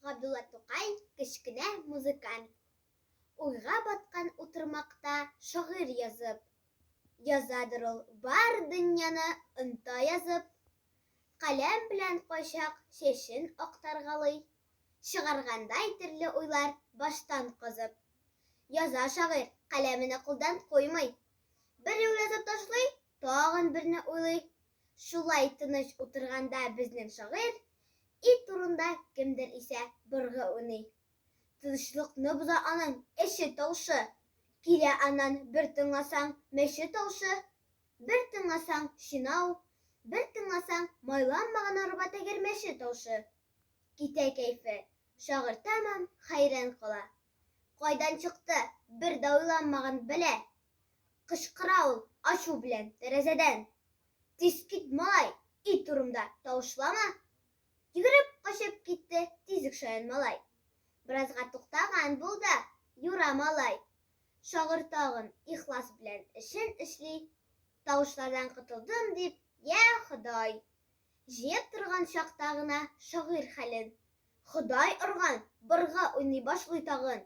Габдулла Тукай, кечкенә музыкант. Уйга баткан утырмакта шагыйрь язып. Язадыр ул бар дөньяны оныта язып. Каләм белән кайчак чәчен актаргалый. Чыгаргандай төрле уйлар баштан казып. Яза шагыйрь, каләмене кулдан куймый. Бер юл язып ташлый, тагын берне уйлый. Шулай тыныч утырганда безнең шагыйрь Ит турында кемдер исә быргы уйный. Тынычлыкны боза аның эче тавышы, Килә аннан бер тыңласаң мәче тавышы, Бер тыңласаң чинау, бер тыңласаң Майланмаган арба тәгәрмәче тавышы. Китә кәефе, шагыйрь тәмам хәйран кала. Кайдан чыкты, бер дә уйланмаган бәла, Кычкыра ул ачу белән тәрәзәдән. Тиз кит, малай, ит турымда тавышлама! Йөгереп качып китте тизек шаян малай. Беразга туктаган бул да, юра, малай! Шагыйрь тагын ихлас белән эшен эшли, Тавышлардан котылдым дип, йә, Ходай! Җыеп торган чакта гына шагыйрь хәлен. Ходай орган, бырга уйный башлый тагын.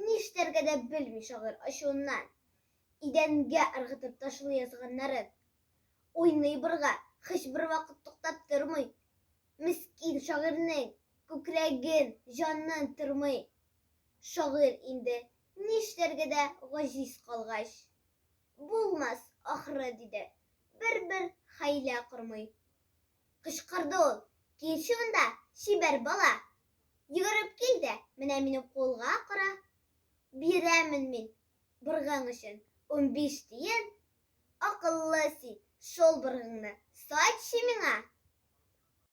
Ништәргә дә белми шагыйрь ачуыннан. Идәнгә ыргытып ташлый язганнарын. Уйный бырга, һичбер вакыт туктап тормый. Мескин шагыйрьнең күкрәген, җанын тырмый. Шагыйрь инде ништәргә дә гаҗиз калгач. Булмас, ахры, диде. Бер-бер хәйлә кормый. Кычкырды ул, Кил шунда, чибәр бала! Йөгереп кил дә, менә минем кулга кара. Бирәмен мин, быргың өчен, унбиш тиен. Акыллы син, шул быргыңны сатчы миңа!